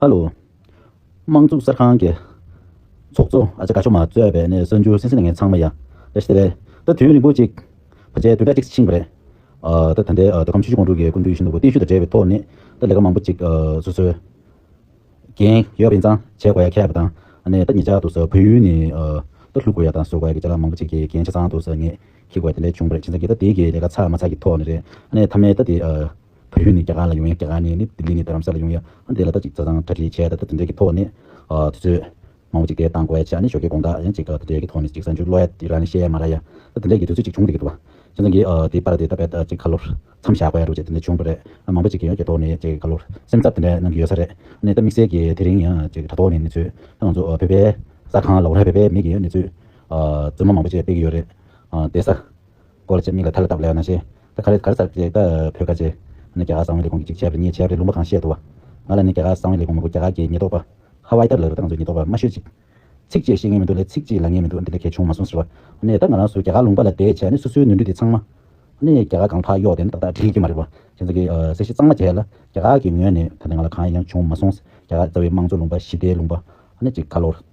ཧ་ལོ། དམངས་གཙུག་གསར་ཁང་གི། ཚོགས་གཙོ་ཨ་ཅག་ག་ཤོ་མ་རྩོད་པའི་ནས་གསར་འགྱུར་སེ་སེ་ནས་ངས་ཚང་མ་ཡ། རེད་ཤི་རེད། ད་དུས་ཡུན་རིང་པོ་ཅིག། བར་ཆད་དུས་དྲ་གཅིག་ཕྱིན་པ་རེད། ད་ད་འདའི་ད་ཁམས་ཆུ་ཤུར་ཀོང་ཀྲུག་གི་ཀུན་བཏུས་ཤིན་ཏུ་བརྟན་ཤུལ་དང་བྲལ་བའི་ཐོག་ནས། ད་ལས་ཀ་མང་པོ་ཅིག། སོ་སོའི། འགན། ཡོད་པ་ཡིན་ཙང་བྱེད་དགོས་ཡ་ཁྱད་པ་དང། ནས་ད་ངེད་ཅག་ཏུ་བོད་ཡུལ་ནས། ད་ལྷུག་དགོས་ཡ་དང་བཟོ་དགོས་ཡ་གི་ཅ་ལག་མང་པོ་ཅིག་གི་འགན་ཆ་ཚང་ཏུ་ངེད། ཁྱི་དགོས་དེ་ལས་བྱུང་པ་རེད་ཕྱིན་ཙང་གི་ད་དེ་གི་ལས་ཀ་ཚར་མ་ཚར་གི་ཐོག་ནས་རེད། ནས་ཐ་མའི་ད་དེ། བོད་ཡུལ་ནས་རྒྱ་གར་ལ་ཡོང་ཡང་རྒྱ་གར་ནས་ནི་ལྡི་ལི་ནས་དྷ་རམ་ས་ལ་ཡོང་ཡང་དེ་ལ་ད་ཅིག་བཟའ་ཚང་གྲ་སྒྲིག་བྱས་ད་ད་དེ་འདྲའི་གི་ཐོག་ནས་དུས་ཚོད་མང་བོ་ཅིག་དེ་བཏང་གོ་ཡ་ཆ་ནི་ཞོ་ཀའི་དགོངས་དག་ཡང་ཅིག་དེ་འདྲའི་གི་ཐོག་ནས་ཅིག་གསར་འགྱུར་ཀློག་ཡ་ཡི་ར་ནི་བཤད་ཡ་མ་ར་ཡ་ད་དེ་འདྲའི་གི་དུས་ཚོད་ཅིག་བྱུང་འདུག་གི་འདུག་བ། ཁྱེད་ཚང་གི་དེའི་པར་དེ་ད་བས་ད་ཅིག་ཁ་ལོར་མཚམས་བཞག་གོ་ཡ་རུ་ཅིག་དེ་འདྲ་བྱུང་འགྲོ་རེད་མང་བོ་ཅིག་གི་ཡང་གི་ཐོག་ནས་ཅིག་ཁ་ལོར་སེམས་འཚབ་དེ་འདྲ་གནང་གི་ཡོད་ས་རེད་ནི་ད་དམིགས་བསལ་གི་དེ་རིང་ཡང་ཅིག་དྲ་ཐོག་ནས་ནི་ཚོས་ད་ང་ཚོ་བོད་པའི་གསར་ཁང་ལ་འོ་ར་བས་པའི་མིག་གི་ཡང་ནི་ཚོས་རྫུན་མ་མང་བོ་ཅིག་སྤེལ་གི་ཡོད་རེད་དེ་ས་སྐོར་བཅས་མིག་ལ་ཐར་ལ་བཏབ་ལེ་ན་ཤེས། ད་ག་རེ་གར་ཟག་བྱས་ད་བོད་ཁ་ཆེ། ནི་རྒྱ་གར་གསང་བའི་ལས་ཁུངས་ཀྱི་ཅིག་བྱས་པར་ཉེས་བྱས་རེད་ལུང་པ་གང་བཤད་འདུག་བ། ང་ལ་ནི་རྒྱ་གར་གསང་བའི་ལས་ཁུངས་མི་དགོས་རྒྱ་གར་གྱི་ཉེས་རྟོག་པ། ཧ་ཝའི་ཏར་ལགས་ལ་ད་ང་ཚོའི་ཉེས་རྟོག་པ་མ་ཤོད་ཅིག། ཚིག་བཅད་ཤེས་ངེས་མི་འདུག་ལས་ཚིག་ཅིག་ལ་ངེས་མི་འདུག་འདི་འདྲ་གལ་ཆུང་མ་གསུངས་ཟེར་བ། ནི་ད་ང་རང་སུ་རྒྱ་གར་ལུང་པ་ལ་དེད་བྱས་ནི་སུ་སུའི་ནོར་འཁྲུལ་དེ་ཚང་མ། ནི་རྒྱ་གར་གང་ཕག་གཡོག་དེ་ནི་ཏག་ཏག་བྲིས་རྒྱུ་མ་རེད་བ། ཁྱེད་ཚོ་གི་གསལ་བཤད་གཙང་མ་བྱས་ལ་རྒྱ་གར་གྱི་ངོས་ནས་ད་ནི་ང་ལ་གང་ཡང་ཆུང་མ་གསུངས། རྒྱ་གར་རྩ་བའི་དམངས་གཙོ་ལུང་པ་ཞི་བདེའི་ལུང་པ། ནི་ཅིག་ཁ་ལོར།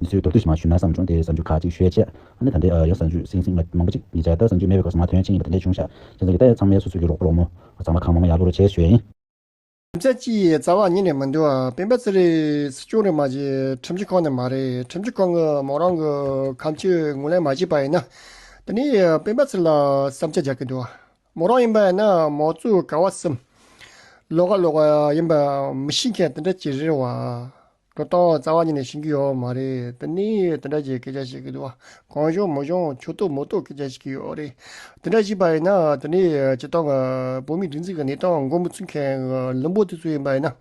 མི་ཚོས་མདོར་བསྡུས་ཤིག་མ་ཞུས་ན་བསམ་བྱུང་དེ་གཟའ་འཇུག་ཁ་ཅིག་ཤོད་ཅེས། ཨ་ནེ་ད་ལྟའི་ཡང་གཟའ་འཇུག་སིང་སིང་མ་མང་པོ་ཅིག་ཡིན་ཟེར་ད་གཟའ་འཇུག་མེད་པའི་སྐབས་སུ་མ་དོན་ཅི་ཡིན་པ་དེ་འདྲས་ཆུང་ཤག་ཁྱེད་ཚང་གི་ལྟ་ཡ་ཚང་མའི་སོ་སོ་ཀྱི་རོགས་པོ་རོགས་མོ་ཚང་མ་ཁང་མང་མང་ཡག་པོ་རུ་བྱེད་ཞོད་ཡིན། རྒྱུ་མཚན་ཅི་ཡི་རྩ་བ་ཉིད་ནས་མི་འདུག་སྤེན་པ་ཚེ་རིང་སྲིད་སྐྱོང་རེད་མ་གཞི་ཁྲིམས་སྤྱི་ཁང་ནས་མ་རེད་ཁྲིམས་སྤྱི་ཁང་གི་མོ་རང་གི་ཁམས་ཆོས་ངོས་ལེན་མ་བྱས་པ་ཡིན་ན་དེ་ནི་སྤེན་པ་ཚེ་ལ་བསམ་ཆ་རྒྱག་གི་འདུག་མོ་རང་ཡིན་པ་ཡིན་ན་མོ་གཙོས་ག་བ་སེམས་ལོག་ག་ལོག་ཡིན་པ་མི་ཤེས་མཁན་དེ་འདྲ་ཅིག་རེད་བ། སྒྲོ་བཏགས་རྩ་བ་ཉིད་ནས་ཤེས་རྒྱུ་ཡོད་མ་རེད་དེ་ནི་དེ་འདྲ་ཞིག་སྐད་ཆ་ཞིག་གི་འདུག་བ་གང་གཞུང་མི་གཞུང་ཆོས་རྟོག་མི་རྟོག་སྐད་ཆ་ཞིག་གི་ཡོད་རེད་དེ་འདྲ་ཞིག་པ་ཡིན་ན་དེ་ནི་སྤྱི་བཏང་གི་བོད་མིའི་སྒྲིག་འཛིག་གི་གནས་སྟངས་མགོ་མི་ཚུགས་མཁན་གི་ལུང་པོ་དེ་ཚོ་ཡིན་པ་ཡིན་ན་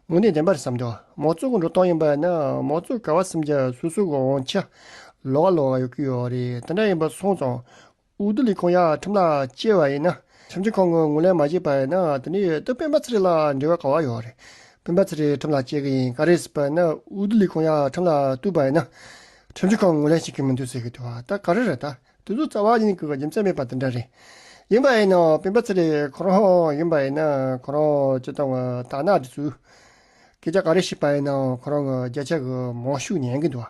དངོས་གནས་བདེན་པར་བསམ་དོ་མང་ཚོགས་ཀྱི་འགྲོ་སྟངས་ཡིན་པ་ཡིན་ན་མང་ཚོགས་ག་བ་སེམས་ཀྱི་སོ་སོ་གི་དབང་ཆ་ལོག་ག་ལོག་ག་ཡོད་ཀྱི་ཡོད་རེད་དེ་འདྲ་ཡིན་པ་སོང་ཙང་འོས་བསྡུ་ལས་ཁུངས་ཡར་ཁྲིམས་ལ་སྐྱེལ་བ་ཡིན་ན་ཁྲིམས་ཆད་ཁང་གིས་ངོས་ལེན་མ་བྱས་པ་ཡིན་ན་དེ་ནི་འོས་བསྡུ་སྤེན་པ་ཚེ་རིང་ལ་འབྲེལ་བ་ག་བ་ཡོད་རེད། སྤེན་པ་ཚེ་རིང་ཁྲིམས་ལ་སྐྱེལ་གི་ཡིན་ག་རེད་ཟེར་པ་ནི་འོས་བསྡུ་ལས་ཁུངས་ཡར་ཁྲིམས་ལ་བསྟུད་པ་ཡིན་ན་ཁྲིམས་ཆད་ཁང་ངོས་ལེན་བྱེད་ཀྱི་མི་འདུག་ཟེར་གི་འདུག་ད་ག་རེ་རེད་ད་དེ་ཚོ་རྩ་བ་ཉིད་ཀྱི་རྒྱུ་མཚན་མེད་པ་དེ་འདྲ་རེད། ཡིན་པ་ཡིན་ན་སྤེན་པ་ཚེ་རིང་ཁོ་རང་ཡིན་པ་ཡིན་ན་ཁོ་རང་སྤྱི་བཏང་གི་དར་ནག་འདི་ཚོས་སྐད་ཆ་ག་རེ་བཤད་པ་ཡིན་ན་ཁོ་རང་གི་རྒྱ་ཆེ་གི་མང་ཤོས་ཉན་གི་འདུག་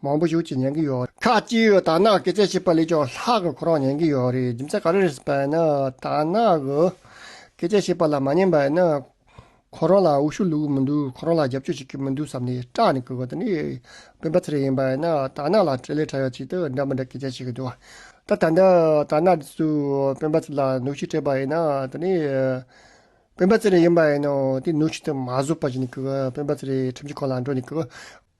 མང་པོ་ཞུགས་ཀྱིས་ཉན་གྱི་ཡོད། ཁ་ཅིག་ཡོད་དག་ནག་སྐད་ཆ་བཤད་པ་ལས་ཀྱང་ལྷག་གི་ཁོ་རང་ཉན་གྱི་ཡོད་རེད་རྒྱུ་མཚན་ག་རེ་རེད་ཟེར་པ་ཡིན་ན་དག་ནག་གི་སྐད་ཆ་བཤད་པ་ལ་མ་ཉན་པ་ཡིན་ན་ཁོ་རང་ལ་འུ་ཤུ་ལུ་གི་མི་འདུག་ཁོ་རང་ལ་རྒྱབ་སྐྱོར་བྱེད་ཀྱི་མི་འདུག་བསམ་ནས་སྐྲག་ནས་གི་གི་དེ་ནས་སྤེན་པ་ཚེ་རིང་ཡིན་པ་ཡིན་ན་དག་ནག་ལ་དྲི་ལན་ཕྲ་ཡག་ཅིག་དང་འདྲ་མི་འདྲ་སྐད་ཆ་བཤད་གི་འདུག་ད་ད་ནི་དག་ནག་འདི་ཚོས་སྤེན་པ་ཚེ་ལ་གནོད་ཤུགས་སྤྲད་པ་ཡིན་ན་དེ་ནས་སྤེན་པ་ཚེ་རིང་ཡིན་པ་ཡིན་ན་དེ་གནོད་ཤུགས་དེ་མ་བཟོད་པ་བྱས་ནས་གི་སྤེན་པ་ཚེ་རིང་ཁྲིམས་ཀྱི་ཁོག་ལ་འགྲོ་ནས་གི་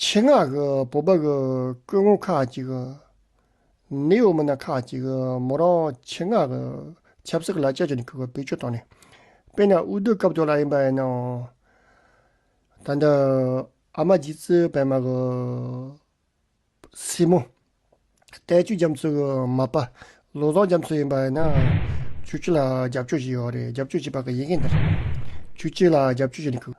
ཆེད་མངགས་ཀྱི་བོད་པ་ཀྱི་སྐུ་ངོ་ཁག་ཅིག་ནི་ཡོད་མིན་ན་ཁག་ཅིག་མོ་རང་ཆེད་མངགས་ཀྱི་ཆབ་སྲིད་ཀྱི་ལ་ཆ་ཅིག་ནས་ཁུར་བའི་བེད་སྤྱོད་བཏང་ནས་དཔེར་ན་དབུས་སྡོད་སྐབས་དོ་ལ་ཡིན་པ་ཡིན་ནའང་ད་ལྟ་ཨ་མ་རྗེ་བཙུན་བལ་མ་ཀྱི་སྲས་མོ་དལ་ཅུས་རྒྱ་མཚོ་ཀྱི་མ་པ་ལོ་བཟང་རྒྱ་མཚོ་ཡིན་པ་ཡིན་ནའང་ཇུ་གཅིག་ལ་རྒྱབ་སྐྱོར་བྱེད་ཀྱི་ཡོད་རེད་རྒྱབ་སྐྱོར་བྱེད་པ་ཀྱི་ཡིན་མཁན་དེར་ཇུ་གཅིག་ལ་རྒྱབ་སྐྱོར་བྱེད་ནས་ཁུར།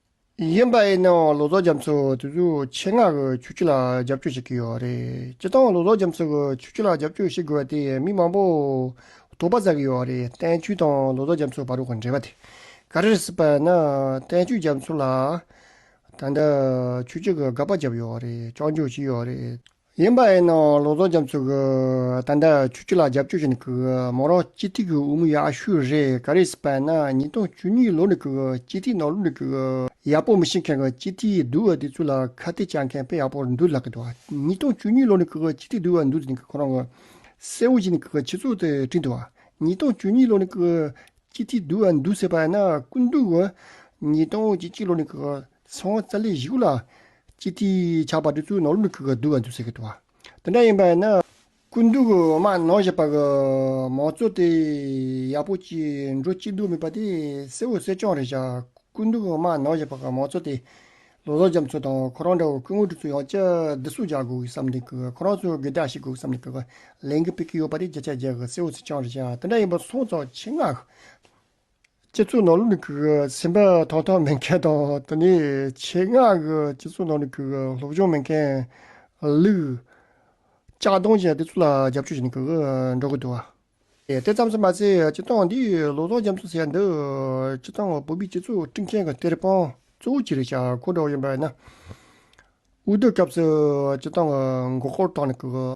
ཡིན་པ་ཡིན་ནའང་ལོ་ཙཱ་རྒྱ་མཚོས་དེ་ཚོའི་ཆེད་མངགས་ཀྱི་ཆུ་རྒྱུད་ལ་རྒྱབ་སྐྱོར་བྱེད་ཀྱི་ཡོད་རེད། སྤྱིར་བཏང་ལོ་ཙཱ་རྒྱ་མཚོས་ཀྱི་ཆུ་རྒྱུད་ལ་རྒྱབ་སྐྱོར་བྱེད་དགོས་པ་དེ་མི་མང་པོས་དོགས་པ་རྩ་གི་ཡོད་རེད་བསྟན་ཆོས་དང་ལོ་ཙཱ་རྒྱ་མཚོའི་བར་གྱི་འབྲེལ་བ་དེ་ག་རེ་རེད་སྲིད་པ་ན་བསྟན་ཆོས་རྒྱ་མཚོ་ལ་ད་ལྟ་ཆུ་རྒྱུད་ཀྱི་དགག་པ་བརྒྱབ་ཡོད་རེད་བཅག་འཇོག་བྱས་ཡོད་རེད། ཡིན་པ་ཡིན་ནའང་ལོ་ཙོང་རྒྱམ་ཚོ་གིས་ད་ལྟ་ཆུ་བཅུ་ལ་རྒྱབ་སྐྱོར་བྱེད་འདུག་མོ་རང་སྤྱི་ཐིག་གི་དབུ་མ་ཡག་ཤོས་རེད་ག་རེ་སྤ་ན་ཉིས་སྟོང་བཅུ་གཉིས་ལོ་ནས་གི་སྤྱི་ཐིག་ནང་ལུགས་གི་ཡག་པོ་མི་ཤེས་མཁན་གི་སྤྱི་ཐིག་བསྡུ་བ་དེ་ཚོ་ལ་ཁ་གཏད་བཅག་མཁན་དཔེ་ཡག་པོ་འདུག་ལགས་གི་འདུག་ཉིས་སྟོང་བཅུ་གཉིས་ལོ་ནས་གི་སྤྱི་ཐིག་བསྡུ་བ་འདུག་ཟེར་ནས་ཁོ་རང་གི་སྲས་བོ་ཞིག་ནས་གི་ཆེ་ཚོགས་དེ་བྲིས་འདུག་ཉིས་སྟོང་བཅུ་གཉིས་ལོ་ནས་གི་སྤྱི་ཐིག་བསྡུ་བ་འདུག་ཟེར་པ་ན་ཀུན་འདུག་གི་ཉིས་སྟོང་བཅུ་གཅིག་ལོ་ནས་གི་ཚང་བ་ཙལ་ལི་བཞི་དགུ་ལ། སྤྱི་ཏི་ཆགས་པ་དེ་ཚོའི་ནང་ལོ་མི་ཁུག་ག་བསྡུ་བ་འདུག་ཟེར་གི་འདུག་བ། དེ་འདྲ་ཡིན་པ་ཡིན་ན། སྐུ་མདུན་གྱི་འོ་མ་ནང་བཞག་པ་གི་མང་གཙོ་དེ་ཡག་པོ་གཅིག་འགྲོ་གཅིག་འདུག་མིན་པ་དེ་གསལ་བོ་གསལ་རྐྱང་རེད་བཞག་སྐུ་མདུན་གྱི་འོ་མ་ནང་བཞག་པ་གི་མང་གཙོ་དེ། ལོ་ཟོག་རྒྱམ་ཚོ་དང་ཁོ་རང་འདྲ་བོ་སྐུ་ངོ་དེ་ཚོ་ཡང་སྤྱི་བདུད་སོགས་རྒྱག་དགོས་གི་བསམ་གི་འདུག་ཁོ་རང་ཚོ་གི་དགྲ་བྱེད་དགོས་བསམ་གི་འདུག་ལན་གི་སྤེལ་གི་ཡོད་པ་དེ་བརྒྱ་ཆ་བརྒྱ་གི་གསལ་བོ་གསལ་རྐྱང་རེད་བཞག་དེ་འདྲ་ཡིན་པ་ཚང་བཙོག་ཆེ་ངག་སྤྱི་ཚོགས་ནང་ལུགས་ཀྱི་ཟིན་པ་ཐོག་ཐོག་མེད་མཁན་དང་དེ་ནི་ཆེད་མངགས་ཀྱི་སྤྱི་ཚོགས་ནང་ལུགས་ཀྱི་སློབ་སྦྱོང་མེད་མཁན། ལུག། ལྕགས་སྡོང་ཅན་དེ་ཚོ་ལ་རྒྱབ་སྐྱོར་བྱེད་འགྲོ་གི་འདུག། དེ་ཙམ་ཟེར་མ་ཟད་སྤྱི་སྟངས་འདི་ལོ་ཚོགས་འཇམ་ཚོགས་ཟེར་འདུག་སྤྱི་སྟངས་བོད་པའི་སྤྱི་ཚོགས་སྐྲུན་མཁན་གྱི་གཏེར་དཔོན་གཙོ་བོ་གྱི་རེ་བཞག་གོ་བསྒྲགས་ཡིན་པ་ཡིན་ན། དབུས་སྡོད་སྐབས་སུ་སྤྱི་སྟངས་མགོ་སྐོར་དྲགས་ནས།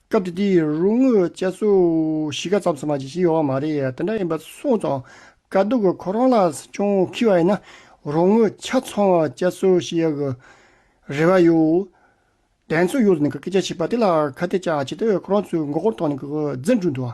སྐབས་དེ་དུས་རུ་དངུལ་བཅའ་ཚུགས་གཞིས་ཀ་ཙམ་སོང་བ་ཞིག་ཡོད་པ་མ་རེད་དེ་འདྲ་ཡིན་པ་གསུངས་སོང། དཀའ་སྡུག་གི་ཁོ་རང་ལ་ཅུང་འཁི་བ་ཡིན་ན་རུ་དངུལ་ཆ་ཚང་བཅའ་ཚུགས་ཞིག་ཡོད་དགོས་རེ་བ་ཡོད། གདན་ཚོགས་ཡོངས་ནས་སྐད་ཆ་བཤད་པ་དེ་ལ་ཁ་གཏད་ཅག་བྱེད་དུས་ཁོ་རང་ཚོའི་མགོ་སྐོར་ཐོག་ནས་འཛིན་གྲོལ་འདུག།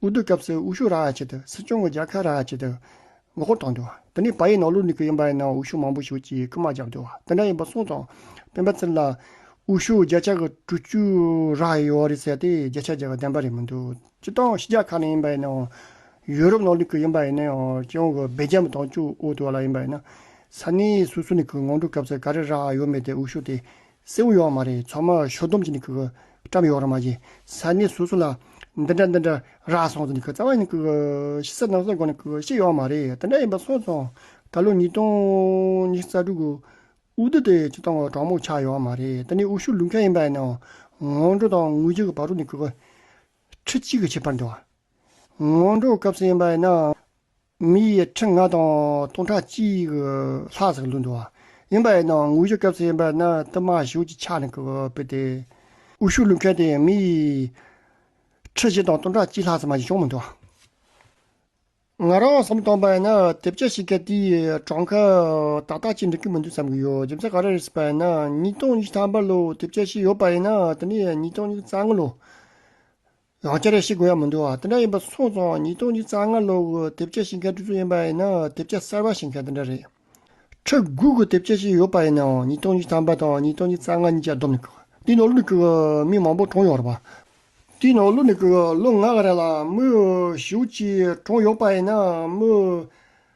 དབུ་བསྡུ་སྐབས་སུ་དབུ་ཤུགས་རག་ཡ་ཆེད་དུ་སྲིད་སྐྱོང་གི་རྒྱལ་ཁ་རག་ཡ་ཆེད་དུ་མགོ་སྐོར་བཏང་འདུག་དེ་ནས་བ་ཡི་ནང་ལུག་ནི་གི་ཡིན་པ་ཡིན་ན་དབུ་ཤུགས་མང་པོ་ཞིག་གིས་རྐུན་མ་བརྒྱབ་འདུག་དེ་འདྲ་ཡིན་པ་གསུངས་སོང། སྤེན་པ་ཚེ་ལ། དབུ་ཤུགས་བརྒྱ་ཆ་གི་དྲུག་ཅུ་རག་ཡ་ཡོད་རེད་ཟེར་ཏེ་བརྒྱ་ཆ་བརྒྱ་གི་བདེན་པ་རེད་མི་འདུག་སྤྱི་སྟངས་ཕྱི་རྒྱལ་ཁག་ནས་ཡིན་པ་ཡིན་ནའང། ཡུ་རོབ་ནང་ནི་གི་ཡིན་པ་ཡིན་ནའང་སྤྱི་ཡོངས་ཀྱི་སྦེལ་རྗམ་དང་ཅུའུ་ཨོ་ཏུ་བ་ལ་ཡིན་པ་ཡིན་ན། ས་གནས་སོ་སོའི་ནི་གི་ངོ་འགྲོ་སྐབས་སུ་ག་རེ་རག་ཡ་ཡོད་མེད་དེ་དབུ་ཤུགས་དེ་སེའུ་ཡོག་མ་རེད་ཚོགས་མ་ཞོ་སྡོམ་གྱི་ནི་ཀི་ཀི་བཀྲམ་ཡོག་ར་མ་གྱི་ས་གནས་སོ་སོ་ལ་འདི་འདྲ་འདི་འདྲ་ར་སོང་ཚོ་ནི་ཀི་རྩ་བ་ནི་ཀི་ཀི་ཤི་ས་ནང་སོ་སྒོ་ནི་ཀི་ཀི་ཤི་ཡོག་མ་རེད་འདི་འདྲ་ཡིན་པ་སོང་སོང་ད་ལོ་ཉིས་སྟོང་ཉི་ཤུ་རྩ་དྲུག་གི་དབུ་བསྡུ་དེ་ཆུ་དང་གྲོག་མོ་ཆགས་ཡོག་མ་རེད་འདི་ནི་དབུ་ཤུགས་ལུག་མཁན་ཡིན་པ་ཡིན་ནའོ་ངོ་འགྲོ་དང་དངུལ་ཆུ་གི་བག་རུ་ནི་ཀི་ཀི་ཁྲི་གཅིག་གི་ཆེ་བར་འདི་བ་ངོ་འགྲོ་སྐབས་སུ་ཡིན་པ་ཡིན་ན། མི་ཡི་ཁྲི་ལྔ་དང་སྟོང་ཕྲག་གཅིག་ལྷག་ཙམ་ལུས་འདུག་ཡིན་པ་ཡིན་ནའང་དངོས་གཞི་སྐབས་སུ་ཡིན་པ་ན་བསྟུད་མར་གཞུག་ཅིག་ཕྱག་ནས་བུད་དེ། དབུ་བཞུགས་ལུས་མཁན་དེ་མི་ཡི་ཁྲི་བཞི་དང་སྟོང་ཕྲག་གཅིག་ལྷག་ཙམ་མ་གཞི་བྱུང་མི་འདུག། ང་རང་བསམ་བཏང་པ་ཡིན་ན་དེབ་ཆག་ཞིག་གི་དེའི་གྲངས་ཀ་ཏག་ཏག་ཅིག་འགྲིག་གི་མི་འདུག་བསམ་གྱི་ཡོད་རྒྱུ་མཚན་ག་རེ་རེད་ཟེར་པ་ཡིན་ན་ཉིས་སྟོང་ཉི་ཤུ་ཐམ་པ་ལོའི་དེབ་ཆག་ཞིག་ཡོད་པ་ཡིན་ན་དེ་ནི་ཉིས་སྟོང་ཉི་ཤུ་རྩ་ལྔ་ལོའི་ཡང་བསྐྱར་ཡང་ཤི་དགོས་ཡ་མི་འདུག་དེ་འདྲ་ཡིན་པ་སོང་སོང་ཉིས་སྟོང་གཉིས་རྩ་ལྔ་ལོ་དགུ་དེབ་སྐྱེལ་བྱེད་མཁན་དུས་ཚོད་ཡིན་པ་ཡིན་ན་དེབ་སྐྱེལ་གསར་པ་བྱེད་མཁན་དེ་འདྲ་རེད། ཕྲུ་གུ་གི་དེབ་སྐྱེལ་བྱེད་ཡོད་པ་ཡིན་ནའང་ཉིས་སྟོང་གཉིས་ཐམ་པ་དང་ཉིས་སྟོང་གཉིས་རྩ་ལྔ་གཉིས་ཀྱི་སྡོམ་ནི་ཁུག་འདིའི་ནང་བླུགས་འདུག་མི་མང་པོ་གྲོངས་ཡོད་རེད་པ། འདིའི་ནང་བླུགས་འདུག་ལོ་ལྔ་ག་རེ་ལ་མི་བཞི་བཅུ་གཅིག་གྲོངས་ཡོད་པ་ཡིན་ན་མི་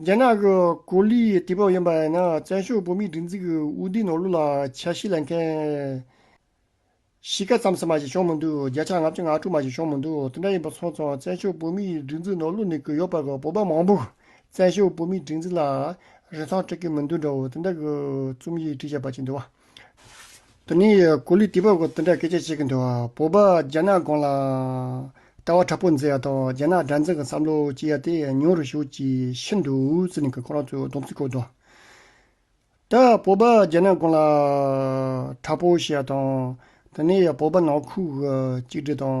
རྒྱ་ནག་གི་གོ་ལའི་དུས་བབ་ཡིན་པ་ཡིན་ན་བཙན་བྱོལ་བོད་མིའི་སྒྲིག་འཛུགས་ཀྱི་དབུས་སྡེའི་ནོར་ལུག་ལ་ཆ་ཤས་ལེན་མཁན། གཞིས་ཀ་རྩམ་ཟ་མ་ཞིག་བྱུང་མི་འདུག་བརྒྱ་ཆ་ལྔ་བཅུ་ང་དྲུག་མ་ཞིག་བྱུང་མི་འདུག་དེ་འདྲ་ཡིན་པ་སོང་ཙང་བཙན་བྱོལ་བོད་མིའི་སྒྲིག་འཛུགས་ནོར་ལུག་ནི་གུ་ཡོག་པ་གི་བོད་པ་མང་པོ་བཙན་བྱོལ་བོད་མིའི་སྒྲིག་འཛུགས་ལ་རིན་ཐང་སྤྲོད་ཀྱི་མི་འདུག་འདྲ་བོ་དེ་འདྲ་གི་རྩོམ་ཡིག་བྲིས་བཞག་པ་ཅིག་འདུག་བ། དོ་ནི་གུ་ལུས་སྟེ་བ་གོ་དོ་འདྲ་སྐད་ཆ་བཤད་གི་འདུག་བོད་པ་རྒྱ་ནག་སྒང་ལ། ལྟ་བ་དྲག་པོ་མཛད་ཡག་དང་རྒྱ་ནག་དགྲ་འཛིང་གི་བསམ་བློ་སྐྱེ་ཡག་དེ་ཉུང་རུ་ཞུགས་ཀྱི་ཤི་འདུག་ཟེར་ནས་ཁོ་རང་ཚོས་སྡོམ་ཚིག་བཀོད་འདུག་ད། བོད་པ་རྒྱ་ནག་སྒང་ལ། དྲག་པོ་བཤད་ཡག་དང། དོ་ནི་བོད་པ་ནང་ཁུག་གཅིག་སྒྲིལ་དང་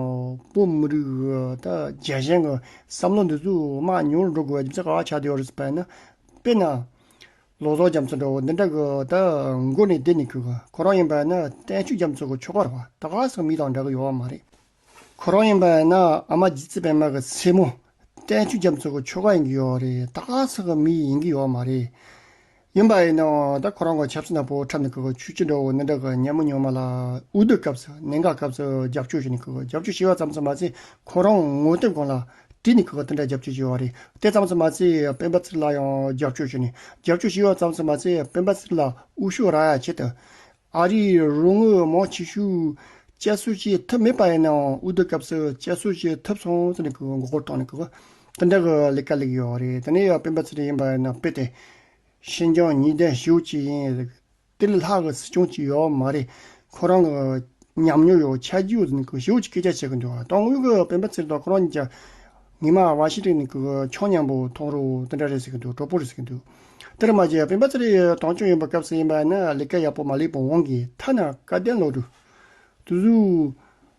བོད་མི་རིགས་ད་རྒྱ་གཞན་གི་བསམ་བློ་འདི་ཚོས་དམག་ཉུང་རུ་འགྲོ་དགོས་པའི་རྒྱུ་མཚན་ག་ལ་ཆགས་བསྡད་ཡོད་རེད་ཟེར་བ་ཡིན་ན། དཔེར་ན། ལོ་ཙོག་རྒྱ་མཚོ་འདྲ་བོ་འདི་འདྲ་གི་ད་མགོ་ནས་བསྡད་ནས་ཁུག་གི་ཁོ་རང་ཡིན་པ་ཡིན་ན་བསྟན་ཆོས་རྒྱ་མཚོ་གི་ཆོ་ག་ར་བ་ད་ག་ཟག་མི་དང་འདྲ་གི་ཡོད་བ་མ་རེད། ཁོ་རང་ཡིན་པ་ཡིན་ན་ཨ་མ་རྗེ་བཙུན་པད་མ་གི་ཚེ་མོ་བསྟན་ཆོས་རྒྱ་མཚོ་གི་ཆོ་ག་ཡིན་གི་ཡོད་རེད་ད་ག་ཟག་གི་མི་ཡིན་གི་ཡོད་བ་མ་རེད། ཡིན་པ་ཡིན་ན་ད་ཁོ་རང་གི་ཆབ་སྲིད་ནག་པོ་འཁྲབ་ནས་ཁུག་གི་ཆུ་སྐྱི་འདྲ་བོ་འདི་འདྲ་གི་ཉལ་མོ་ཉོལ་མ་ལ་འུར་རྡོ་སྐབས་སུ་ནད་འགག་སྐབས་སུ་རྒྱབ་སྐྱོར་བྱས་ནས་ཁུག་གི་རྒྱབ་སྐྱོར་བྱས་བ་ཙམ་ཙམ་མ་ཚད་ཁོ་རང་ངོ་དེབ་སྒང་ལ་བཀྲིས་ནི་གུས་པ་དེ་འདྲ་རྒྱབ་སྐྱོར་བྱེད་བ་རེད་དེ་ཙམ་སུ་མ་ཚད་སྤེན་པ་ཚིག་ལ་ཡང་རྒྱབ་སྐྱོར་བྱེད་ནས་རྒྱབ་སྐྱོར་བྱེད་བ་ཙམ་སུ་མ་ཚད་སྤེན་པ་ཚིག་ལ་དབུ་ཤོག་རག་ཡ་བྱེད། ཨ་རིའི་རུ་དངུལ་མང་ཆེ་ཤོས་བཅད་གསོད་བྱེད་ཐབས་མེད་པ་ཡིན་ནའང་དབུ་སྡུད་སྐབས་སུ་བཅད་གསོད་བྱེད་ཐབས་སོང་ཟེར་ནས་མགོ་སྐོར་བཏང་ནས་དེ་འདྲ་གི་ལས་ཀ་ལས་ཀྱི་ཡོད་རེད་དེ་ནས་ཡང་སྤེན་པ་ཚིག་ཡིན་པ་ཡིན་ན་དཔེ་དེ་ཤིན་ཅང་ཉིས་ལྡན་ཞེ་བོ་གཅིག་ཡིན་ཟེར་གི་དེ་ལས་ལྷག་གི་སྲིད་སྐྱོང་གཅིག་ཡོད་མ་རེད། ཁོ་རང་གི་ཉམས་མྱོང་ཡོད་ཆ་རྒྱུས་ཡོད་ནི་གུ་ཞའུ་གཅིག་སྐད་ཆ་བཤད་གི་འདུག་ཏང་ཨུའི་གི་སྤེན་པ་ཚེ་རིང་དང་ཁོ་རང་གཉིས་ཀྱི་ཉི་མ་བ་ཤི་རིག་ནི་གི་ཆོ་མཉམ་པོ་ཐོག་རུ་དེ་འདྲ་རེད་ཟེར་གི་འདུག་གྲོགས་པོ་རེད་ཟེར་གི་འདུག་དེར་མ་ཟད་སྤེན་པ་ཚེ་རིང་ཏང་སྐྱོང་ཡིན་པ་སྐབས་སུ་ཡིན་པ་ནི་ལས་ཀ་ཡག་པོ་མ་ལེགས་པོ་འོང་གི་ཐ་ན་བཀའ་བསྟན་ལོ་དྲུག་དུ།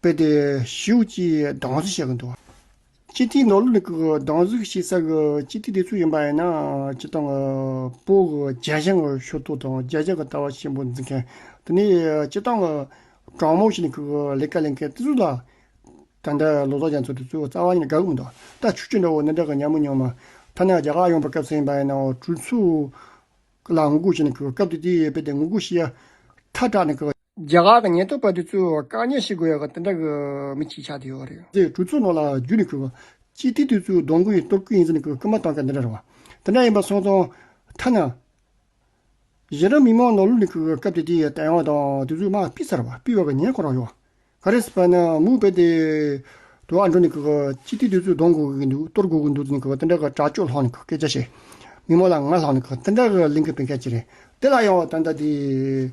དཔེ་དེ་ཞིབ་ཀྱིས་སྡང་ཟུག་བྱེད་ཀྱི་འདུག་སྤྱི་ཐིག་ནང་ལུགས་ནི་གི་སྡང་ཟུག་ཞིག་བསགས་ཀྱི་སྤྱི་ཐིག་དེ་ཚོ་ཡིན་པ་ཡིན་ན་སྤྱི་དང་གི་པོ་གི་རྒྱལ་ཞེན་གྱི་ཤུགས་རྟོག་དང་རྒྱལ་ཆ་གི་ལྟ་བ་ཆེན་པོ་འཛིན་མཁན་དེ་ནི་སྤྱི་དང་གི་དྲང་མོ་ཞིག་ནི་གི་ལས་ཀ་ལས་མཁན་དེ་ཚོ་ལ་ད་འདྲ་ལོ་ཏོག་ཅན་ཚོ་དེ་ཚོའི་རྩ་བ་ནི་དགའ་གི་མི་འདུག་ད་ཆུ་ཆུ་འདྲ་བོ་ནི་འདྲ་གི་ཉམས་མི་མྱོང་མ་ཐག་ན་རྒྱ་གར་ཡོང་པའི་སྐབས་ཚེ་ཡིན་པ་ཡིན་ན་གྲོས་ཚོགས་ལ་ངོ་རྒོལ་བྱས་ནི་གི་སྐབས་དེ་དེའི་དཔེ་དེ་ངོ་རྒོལ་བྱེད་ཡ་ཐག་དྲག་ནི་གི། རྒྱ་གར་དང་ཉེན་རྟོག་པ་དེ་ཚོས་བཀག་ཉར་བྱེད་དགོས་ཡག་དེ་འདྲ་གི་མི་གཅིག་ཆགས་དེ་ཡོད་རེད། ཚེས་དྲུག་ཚུན་ནང་ལ་རྒྱུ་ནི་ཁུར་བ། སྤྱི་ཐི་དེ་ཚོའི་སྡོང་གུ་ཡིན་སྟོབས་ཀུ་ཡིན་ཟེར་ནས་ཁུར་མ་གཏང་ག་འདི་འདྲ་རེད་བ། དེ་འདྲ་ཡིན་པ་སོང་སོང། ཐ་ན། གཞན་རང་མི་མང་ནོར་ལུག་ནི་ཁུར་སྐབས་དེ་དེའི་ལྟ་ཡང་དང་དེ་ཚོའི་དམག་སྤི་ཚར་བ་སྤི་བ་ག་ཉན་ཁོ་རང་ཡོད། ག་རེ་སྤ་ན་མུག་པའི་དེ། དུ་ཨ་འགྲོ་ནི་ཁུ་ག་སྤྱི་ཐི་དེ་ཚོའི་སྡོང་གུ་གི་འདུག་གཏོར་དགོས་གི་འདུག་ཟེར་ནས་ཁུ་ག་དེ་འདྲ་གི་དྲག་སྤྱོད་ལྷག་ནི་ཁུ་སྐད་ཆ་བཤད། མི་མང་ལ་ང་ལྷག་ནི་ཁུ་ག་དེ་འདྲ་གི་གླིང་གི་བན་སྐད་ཅིག་རེད་དེ་ལ་ཡང་ད་ལྟ་དེ།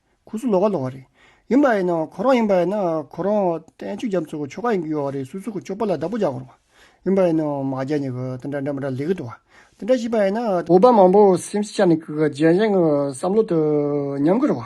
ཁུ་སུ་ལོ་ག་ལོ་བ་རེད། ཡིན་པ་ཡིན་ན་ཁོ་རང་ཡིན་པ་ཡིན་ན་ཁོ་རང་བསྟན་བཅོས་རྒྱབ་ཚོགས་ཀྱི་ཆོ་ག་ཡིན་གྱི་ཡོད་བ་རེད་སུ་སུ་ཁོ་ཆོ་པ་ལ་བདག་པོ་རྒྱག་དགོས་རེད་བ། ཡིན་པ་ཡིན་ན་མ་རྒྱག་ཉེ་གི་དེ་འདྲ་འདྲ་མི་འདྲ་ལས་གི་འདུག་བ། དེ་འདྲ་ཞིག་པ་ཡིན་ན། བོད་པ་མང་པོ་སེམས་ཤེས་བྱ་ནི་གི་གི་རྗེན་བཞེངས་གི་བསམ་བློ་དུ་ཉམས་གི་རེད་བ།